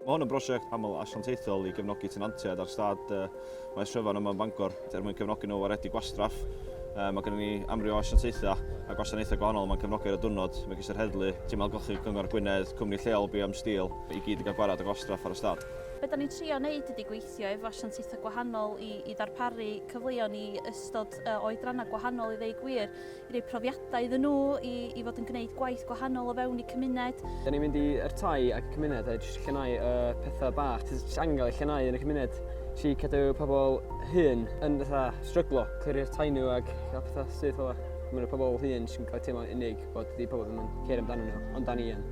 Mae hwn yn brosiect aml asiantaethol i gefnogi tenantiaid ar stad uh, Maes Trefan yma yn Bangor, er mwyn cefnogi nhw waredu gwastraff. Uh, mae gennym ni amryw o asiantaethau a gwasanaethau gwahanol mae'n cefnogi ar y diwrnod. Mae ges i'r heddlu, tîm algochu Cyngor Gwynedd, cwmni lleol BM Steel, i gyd i gael gwared o gwastraff ar y stad. Be da ni'n trio wneud ydy gweithio gweithio efo asiantaethau gwahanol i i ddarparu cyfleon i ystod o oedrannau gwahanol i ddeu gwir, i roi profiadau iddyn nhw i i fod yn gwneud gwaith gwahanol o fewn eu cymuned. Dan ni'n mynd i i'r tai ac y cymuned a jyst llenau y pethau bach sydd jyst angen cael eu llenau yn y cymuned. Jyst i cadw pobl hŷn yn fatha stryglo, clirio'r tai nhw ac cael pethau syth fel 'na. Mae 'na pobl hŷn sy'n cael eu teimlo'n unig. bod di pobl ddim yn ceir amdano nhw, ond da ni yn.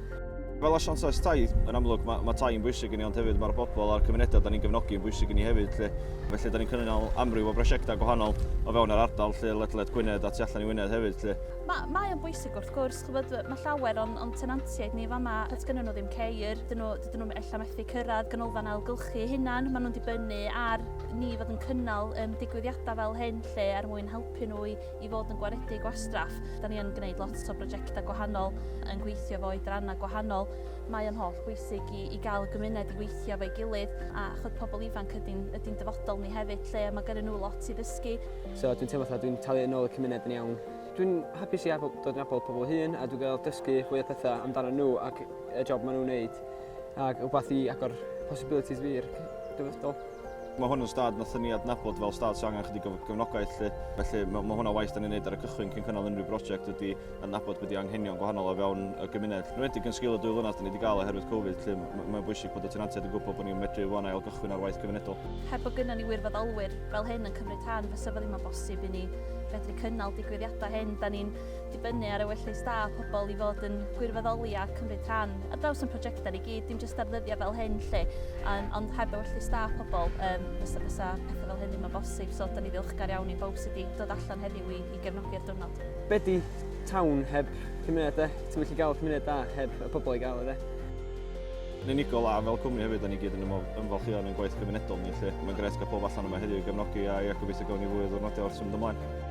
Fel asiant ais tai, yn amlwg, mae, mae tai yn bwysig i ni, ond hefyd mae'r bobl a'r cymunedau da ni'n gefnogi yn bwysig i ni hefyd. Lle. Felly, da ni'n cynnal amryw o brosiectau gwahanol o fewn yr ardal, lle ledled Gwynedd a tu allan i Wynedd hefyd. Lle. Mae, mae o'n bwysig wrth gwrs, chybod, mae llawer o'n, on tenantiaid ni fama, at gynnyn nhw ddim ceir, dyn nhw, dyn nhw ella methu cyrraedd ganolfan ailgylchu hynna'n, maen nhw'n dibynnu ar ni fod yn cynnal um, digwyddiadau fel hyn lle er mwyn helpu nhw i i fod yn gwaredu gwastraff. Da ni yn gwneud lot o brojectau gwahanol, yn gweithio efo oedrannau gwahanol. Mae o'n holl bwysig i, i gael y gymuned i weithio efo'i gilydd, a chwyd pobl ifanc ydy'n, ydy'n dyfodol ni hefyd 'lly, a mae gyrru nhw lot i ddysgu. So dwi'n teimlo fatha dwi'n talu yn ôl y cymuned yn iawn. Dwi'n hapus i abod, dod yn abod pobl hŷn a dwi'n gael dysgu fwy o pethau amdano nhw ac y job maen nhw'n wneud, ac rhywbeth i agor possibilities fi i'r dyfodol. Mae hwn yn stad nathon ni adnabod fel stad sy'n angen chydig o gefnogaeth lly. Felly mae, mae hwnna waith da ni'n neud ar y cychwyn cyn cynnal unrhyw brosiect ydy adnabod beth i anghenion gwahanol o fewn y gymuned. Yn wedig yn sgil y dwy flynadd da ni wedi gael oherwydd Covid lly, mae'n bwysig bod y tenantiaid yn gwybod bod ni'n medru wan ail gychwyn ar waith cymunedol. Heb bod gynnon ni wirfoddolwyr fel hyn yn cymryd rhan fysa fo ddim yn bosib i ni fedru cynnal digwyddiadau hyn. Da ni'n dibynnu ar ewyllys da pobl i fod yn gwirfoddoli a cymryd rhan ar draws ein prosiectau ni gyd, dim jyst ar ddyddiau fel hyn 'lly, yym, ond heb ewyllys da pobl, yym, fysa fysa pethau fel hyn ddim yn bosib, so 'dan ni ddiolchgar iawn i bawb sydd 'di dod allan heddiw i i gefnogi'r diwrnod. Be 'di town heb cymuned de? Ti'm yn gallu gael cymuned da heb y pobl i gael e de? Yn unigol a fel cwmni hefyd 'dan ni gyd yn ymwel- ymfalchïo yn ein gwaith cymunedol ni 'lly. Mae'n grêt cael pawb allan yma heddiw i gefnogi a ia, gobeithio gawn ni fwy o ddiwrnodiau wrth symud ymlaen.